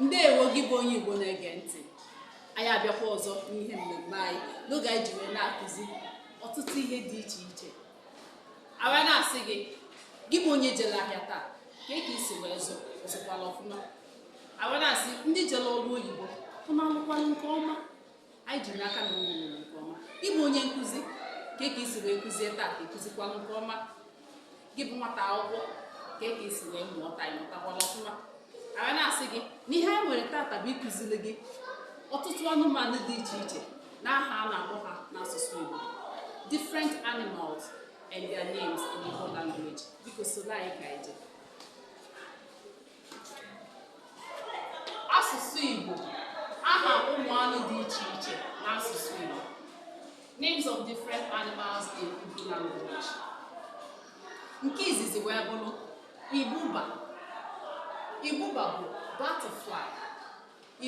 ndewo gị bụ onye Igbo na-ege ntị anyị abịakwa ọzọ n'ihe mmemme anyị n'oge anyị ji wee na-akụzi ọtụtụ ihe dị iche iche anyị wee na-asị gị gị bụ onye jele ahịa taa kee ka i si wee zụ ị zụkwala ọfụma anyị wee na-asị ndị jele ọrụ oyibo ụnụ alụkwala nke ọma anyị ji n'aka na ụnụ lụrụ nke ọma ị bụ onye nkụzi kee ka i si wee kụzie taa ị kụzikwala nke ọma gị bụ nwata akwụkwọ kee ka i si wee mụọ taa ị mụtakwala ọfụma anyị na-asị gị na ihe anyị nwere tata bụ ịkụziri gị ọtụtụ anụmanụ dị iche iche na aha a na-akpọ ha n'asụsụ Igbo different animals and their names in Igbo language biko soro anyị ka anyị jee asụsụ Igbo aha ụmụ anụ dị iche iche n'asụsụ Igbo names of different animals in Igbo language nke izizi wee bụrụ ibuba ibuba bụ butterfly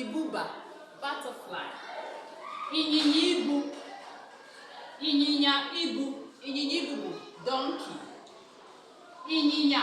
ibuba butterfly ịnyịnya ibu ịnyịnya ibu ịnyịnya ibu bụ donkey ịnyịnya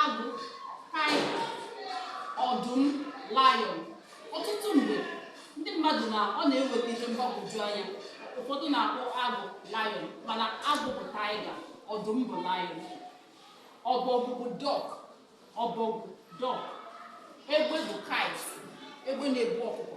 agụ tiger ọdụm lion ọtụtụ mgbe ndị mmadụ na ọ na-eweta ihe mgbagwoju anya ụfọdụ na-akpọ agụ lion mana agụ bụ tiger ọdụm bụ lion ọbọgwụ bụ duck ọbọgwụ duck egbe bụ kite egbe na-ebu ọkụkọ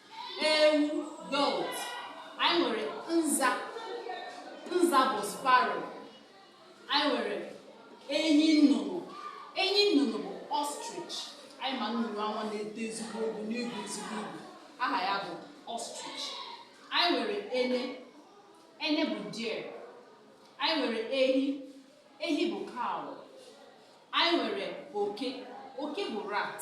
ewu goat anyị nwere nza nza bụ sparrow anyị nwere enyi nnụnụ enyi nnụnụ bụ ostrich anyị ma nnụnụ anwa na-eto ezigbo ogo na-ebu ezigbo ibu aha ya bụ ostrich anyị nwere ene ene bụ deer anyị nwere ehi ehi bụ cow anyị nwere oke oke bụ rat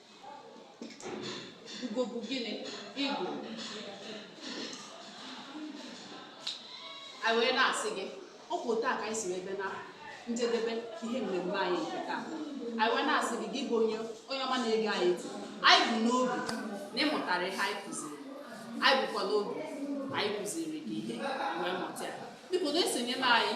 Ugo bụ gịnị? Eagle. Anyị wee na-asị gị, ọ bụ etu a ka anyị si wee bịa na njedebe ihe mmemme anyị nke taa. Anyị wee na-asị gị, gị bụ onye onye ọma na-ege anyị ntị. Anyị bu n'obi na ị mụtara ihe anyị kụziri. Anyị bukwa n'obi na anyị kụziri gị ihe wee mụta ya. Biko na-esonyela anyị